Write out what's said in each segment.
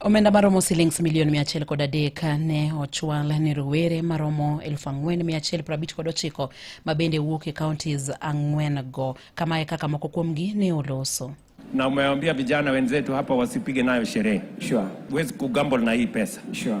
Omenda maromo silings milion 100 kod adek ne ochwal ne rowere maromo 4,159 kod ochiko ma bende wuok e counties ang'wen go. Kama e kaka moko kuomgi ne oloso. Na umewaambia vijana wenzetu hapa wasipige nayo sherehe. Sure. Huwezi kugamble na hii pesa. Sure.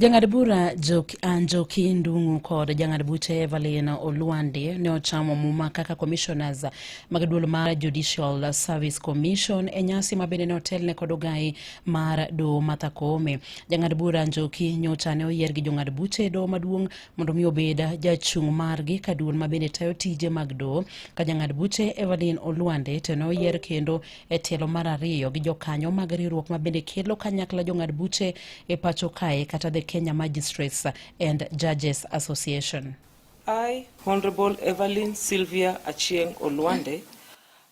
Jang'ad bura ah, Njoki Ndung'u kod jang'ad buche Evelyn Olwande ne ochamo muma kaka commissioners mag duol mar Judicial Service Commission e nyasi ma bende ne otelne kod ogai mar doho Martha Koome. Jang'ad bura Njoki nyocha ne oyier gi jong'ad buche e doho maduong' mondo mi obed jachung' margi ka duol ma bende tayo tije mag doho ka jang'ad buche Evelyn Olwande to ne oyier kendo e tielo mar ariyo gi jokanyo mag riwruok ma bende kelo kanyakla jong'ad buche e pacho kae kata the Kenya Magistrates and Judges Association. I, Honorable Evelyn Sylvia Achieng Olwande,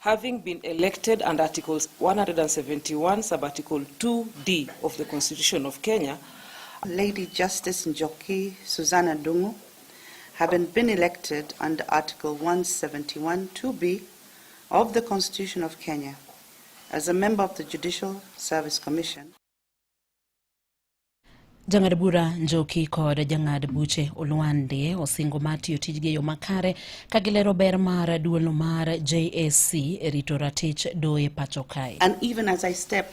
having been elected under Article 171, sub Article 2D of the Constitution of Kenya, Lady Justice Njoki Susanna Dungu, having been elected under Article 171 2B of the Constitution of Kenya as a member of the Judicial Service Commission. Jang'ad bura Njoki kod jang'ad buche Olwande osingo mar tiyo tijgi e yo makare ka gilero ber mar duolno mar JSC e rito ratich doye pacho kae. And even as I step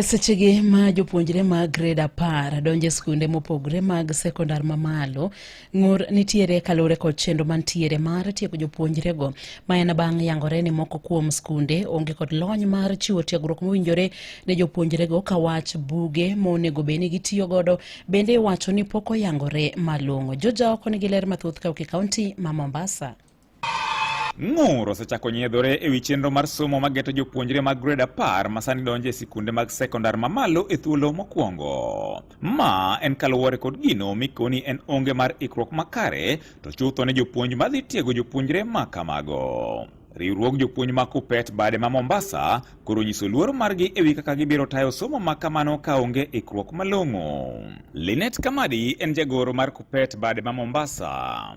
E sechegi ma jopuonjre mag grade apar donjo e skunde mopogre mag sekondar mamalo ng'ur nitiere kaluwore kod chenro mantiere mar tiego jopuonjrego ma en bang' yangore ni moko kuom skunde onge kod lony mar chiwo tiegruok mowinjore ne jopuonjrego ka wach buge monego bed ni gitiyo godo bende iwacho ni pok oyangore malong'o joja oko nigi ler mathoth ka ok e kaunti ma mombasa Ng'ur osechako nyiedhore e wi chenro mar somo ma geto jopuonjre mag grade apar ma sani donjo e sikunde mag sekondar mamalo e thuolo mokwongo. Ma en kaluwore kod gino mikoni en onge mar ikruok makare to chutho ne jopuonj madhi tiego jopuonjre ma kamago. Riwruog jopuonj ma Kupet bade ma Mombasa koro nyiso luoro margi e wi kaka gibiro tayo somo ma kamano ka onge ikruok malong'o. Linet Kamadi en jagoro mar Kupet bade ma Mombasa.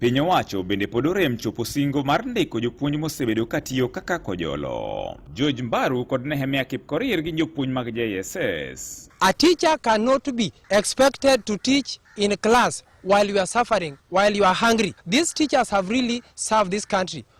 Piny owacho bende pod orem chopo singo mar ndiko jopuonj mosebedo katiyo kaka kojolo. George Mbaru kod Nehemia Kipkorir gin jopuonj mag JSS. A teacher cannot be expected to teach in class while you are suffering, while you are hungry. These teachers have really served this country.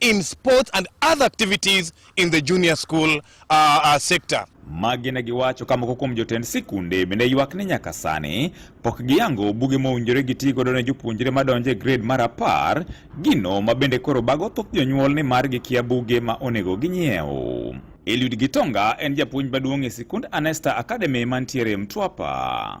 in sports and other activities in the junior school uh, uh, sector. Magi ne giwacho ka moko kuom jotend sikunde bende ywak ni nyaka sani pok giyango buge mowinjore giti godo ne jopuonjre madonjo e grade mar apar, gino ma bende koro bago thoth jonyuol ni mar gikia buge ma onego ginyiew. Eliud Gitonga en japuonj maduong' e sikund Anesta Academy mantiere Mtwapa.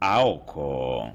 aoko.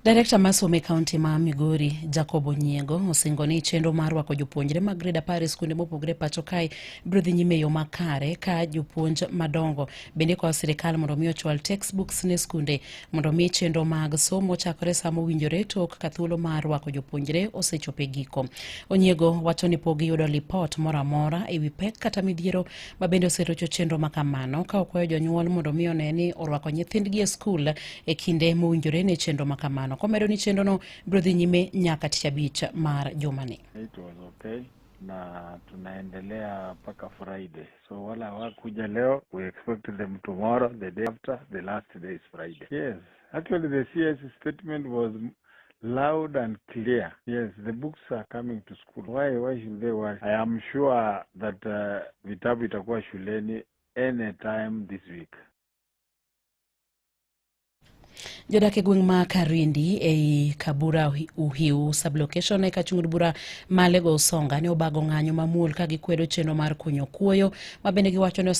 Direkta ma somo e kaunti ma Migori, Jacob Onyiego, osingo ni chenro mar rwako jopuonjre mag grade apar e skunde mopogre pacho kae biro dhi nyime e yo makare ka jopuonj madongo bende kwayo sirikal mondo mi ochwal textbooks ne skunde mondo mi chenro mag somo chakore sa mowinjore tok ka thuolo mar rwako jopuonjre osechopo e giko. Onyiego wacho ni pok giyudo lipot moro amora e wi pek kata midhiero ma bende oserocho chenro ma kamano ka okwayo jonyuol mondo omi one ni orwako nyithindgi e skul e kinde mowinjore ne chenro ma kamano komedo ni chenrono biro dhi nyime nyaka tich abich mar jumani It was okay na tunaendelea mpaka Friday. So wala hawakuja leo, we expect them tomorrow, the day after, the last day is Friday. Yes, actually the CS statement was Loud and clear. Yes, the books are coming to school. Why, why should they worry? I am sure that uh, vitabu itakuwa shuleni anytime this week. jodak e gweng' ma Karindi ei Kabura Uhiu sublocation e kachung'ud bura ma Lego Usonga ne obago ng'anyo mamuol ka gikwedo chenro mar kunyo kuoyo ma bende giwacho ni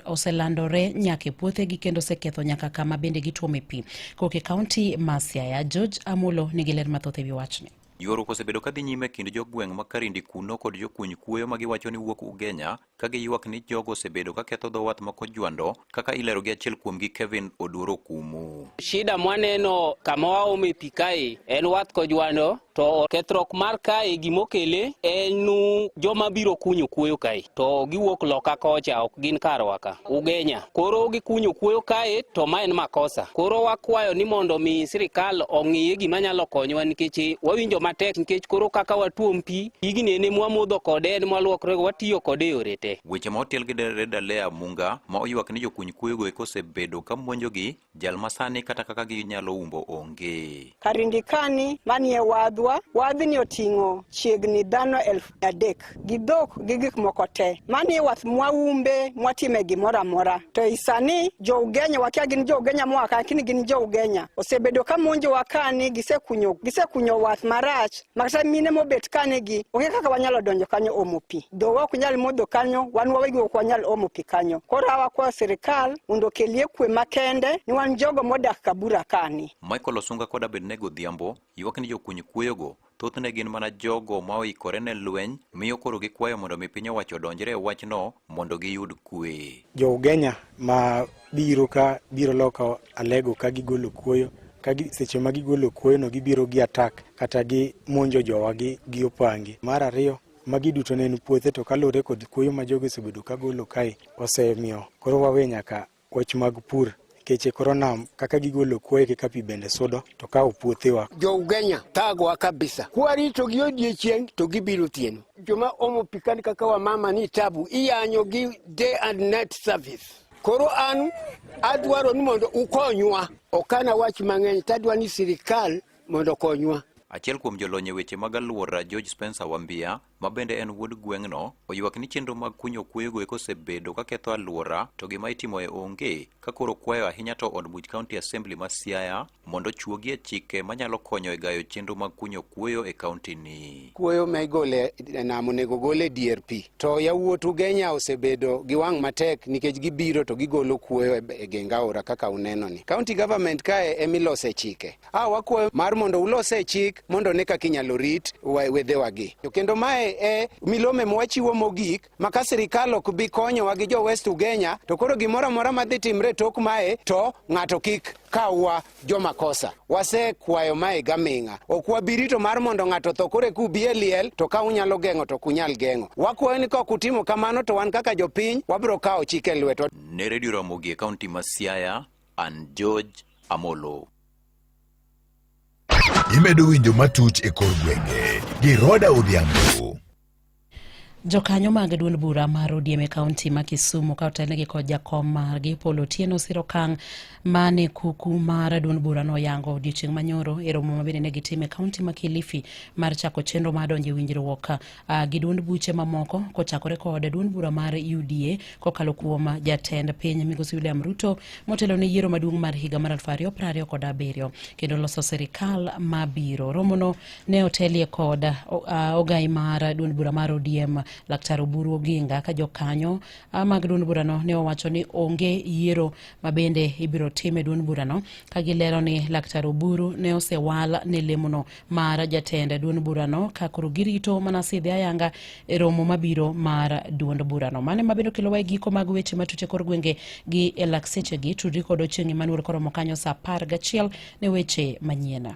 oselandore nyaka e puothegi kendo oseketho nyaka kama bende gituome pi. Kok e kaunti ma Siaya, George Amolo nigi ler mathoth e wi wachni. Ywaruok osebedo kadhi nyime e kind jogweng' ma Karindi kuno kod jokuny kuoyo ma giwacho ni wuok Ugenya ka giywak ni jogo osebedo ka ketho dho wath ma Kojwando kaka ilero gi achiel kuomgi Kevin Oduor Okumu. Shida mwaneno kama waome pi kae en wath Kojwando To kethruok mar kae gimokele en u- joma biro kunyo kuoyo kae to giwuok loka kocha ok gin karwa ka ugenya koro gikunyo kuoyo kae to ma en makosa koro wakwayo ni mondo mi sirikal ong'iye gima nyalo konyowa nikech wawinjo matek nikech koro kaka watuom pi pigni en ema wamodho kode en mwaluokrego watiyo kode e yore te Weche ma otel gi Dere Dalea Munga ma oywak ni jokuny kuoyogo eko osebedo ka monjogi Jal ma sani kata kaka ginyalo umbo onge. Karingikani manie wadhwa, wadhni oting'o chiegni dhano elfu adek gi dhok gi gik moko te. Mani wath mwaumbe mwatime gimoro amora. To i sani jo-Ugenya wakia gin jo-Ugenya moa ka lakini gin jo-Ugenya osebedo ka monjowa kani gisekunyo, gisekunyo wath marach Makata mine mobet kane gi onge kaka wanyalo donjo kanyo omo pi. Dho ok nyal modho kanyo, wan wawegi ok wanyal omo pi kanyo. Koro awa kwa sirikal mondo okelie kwe makende ni wan jogo modak Kabura kani. Michael Osunga kod Abednego Odhiambo ywak ni jokuny kueyogo thothne gin mana jogo ma oikore ne lweny miyo koro gikwayo mondo mi piny owacho odonjre e wachno mondo giyud kwe. Jo Ugenya ma biro ka biro loko alego ka gigolo kuoyo ka seche ma gigolo kuoyono gibiro gi atak kata gi monjo jowa gi, gi opangi mar ariyo magi duto ne en puothe to kaluwore kod kuoyo ma jogo osebedo ka golo kae osemiyo koro wawe nyaka wach mag pur keche koro nam kaka gigolo kuoyo kaka pi bende sudo to kawo puothewa jougenya thagwa kabisa kwarito gi odiechieng' to gibiro tieno joma omo pikani kaka wamama ni tabu iyanyo gi day and night service Koro an adwaro ni mondo ukonywa. Ok an awach mang'eny, to adwa ni sirkal mondo okonywa. Achiel kuom jolony e weche mag alwora George Spencer Wambia ma bende en wuod gweng'no oywak ni chenro mag kunyo kueyogo eko osebedo ka ketho alwora to gima itimoe onge ka koro kwayo ahinya to od buch County Assembly ma Siaya mondo ochuogi e chike manyalo konyo e gayo chenro mag kunyo kuoyo e kauntini. Kuoyo ma igole e nam onego ogol e dier pi. To yawuot Ugenya osebedo gi wang' matek nikech gibiro to gigolo kuoyo e, e geng aora kaka unenoni. County government kae emilose chike. A wakwayo mar mondo ulose chik mondo ne kaka inyalo rit wedhewagi. To kendo mae e milome mwachiwo mogik ma ka sirikal ok bi konyowa gi jo West Ugenya to koro gimoro amora madhi timre tok mae to ng'ato kik kawwa joma kosa. Wasekwayo mae gaming'a. Ok wabirito mar mondo ng'ato tho koro eka ubi e liel to ka unyalo geng'o to ok unyal geng'o. Wakwayo ni ka ok utimo kamano to wan kaka jopiny wabiro kawo chik e lweto. Ne Radio Ramogi e kaunti ma Siaya, an George Amolo. Imedo winjo matut e kor gwenge gi Roda Odhiambo. Jokanyo mag duond bura mar ODM e kaunti ma Kisumu ka otelnegi kod jakom margi Paul Otieno osiro kang' mane kuku mar duond bura no yango odiochieng' manyoro e romo mabende ne gitim e kaunti ma Kilifi mar chako chenro mar donjo e winjruok uh, gi duond buche mamoko kochakore kod duond bura mar UDA kokalo kuom jatend piny Migosi William Ruto motelo ne yiero maduong' mar higa mar 2027 kendo loso sirikal mabiro. Romono ne otelie kod uh, ogai mar duond bura mar ODM Laktar Oburu Oginga ka jokanyo uh, mag duond burano ne owacho ni onge yiero ma bende ibiro tim e duond burano ka gilero ni Laktar Oburu ne osewal ne lemono mar jatend duond burano ka koro girito mana sidhi ayanga e romo mabiro mar duond burano mane mabiro kelowa e giko mag weche matute kor gwenge gi e laksechegi tudri kod Ochieng' Emmanuel koromo kanyo sa apar gachiel ne weche manyiena.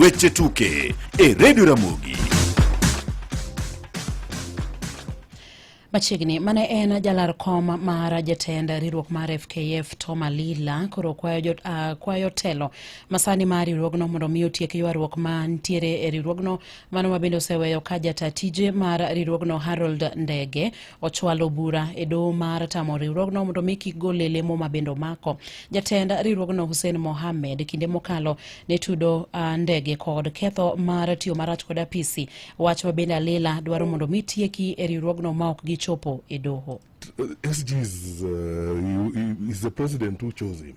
Weche tuke e redio Ramogi. Machiegni mane en jalar kom mar jatend riwruok mar FKF Tom Alila koro kwayo, jot, uh, kwayo telo masani mar riwruogno mondo mi otiek ywaruok mantiere e riwruogno Mano ma bende oseweyo ka jata tije mar riwruogno Harold Ndege ochwalo bura e doho mar tamo riwruogno mondo mi kik gol e lemo ma bende omako. Jatend riwruogno Hussein Mohamed kinde mokalo ne tudo uh, Ndege kod ketho mar tiyo marach kod apisi, wach ma bende alila dwaro mondo mi tieki e riwruogno ma ok gichopo e doho. SG is, uh, is the president who chose him.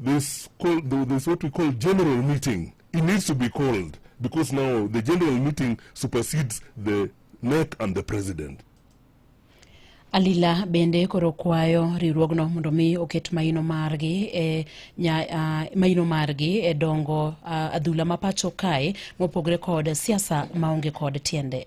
This call, this what we call general meeting. It needs to be called because now the general meeting supersedes the NEC and the president. Alila bende koro kwayo riwruogno mondo mi oket maino margi e nya, uh, maino margi e dongo uh, adhula ma pacho kae mopogre kod siasa maonge kod tiende.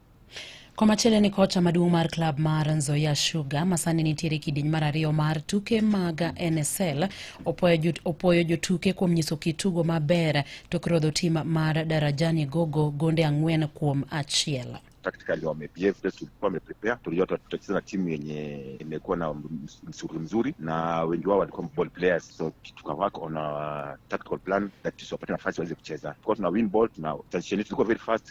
Komachielo ni kocha maduong' mar klab mar Nzoia Sugar masani nitiere kidieny mar ariyo mar tuke mag NSL opoyo jotuke kuom nyiso kitugo maber tok rodho tim mar Darajani Gogo gonde ang'wen kuom achiel tactically wamebehave vile tulikuwa wameprepare. Tulijua tutacheza na timu yenye imekuwa na msuri mzuri, na wengi wao walikuwa ball players, so tukawork on a tactical plan that tusiwapate nafasi waweze kucheza. Tulikuwa tuna win ball, tuna transition, tulikuwa very fast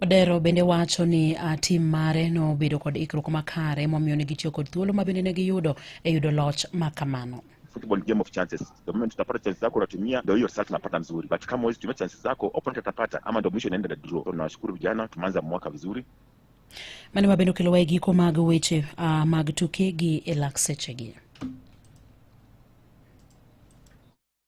Odero bende wacho ni uh, tim mare nobedo kod ikruok makare momiyo ne gitiyo kod thuolo ma bende ne giyudo e yudo loch ma kamano. football game of chances. The moment utapata chances zako unatumia, ndio hiyo result unapata nzuri, but kama huwezi tumia chances zako, opponent atapata, ama ndio mwisho inaenda na draw. So nawashukuru vijana, tumeanza mwaka vizuri. Mani mabende okelowa e giko mag weche uh, mag tuke gi e lak sechegi.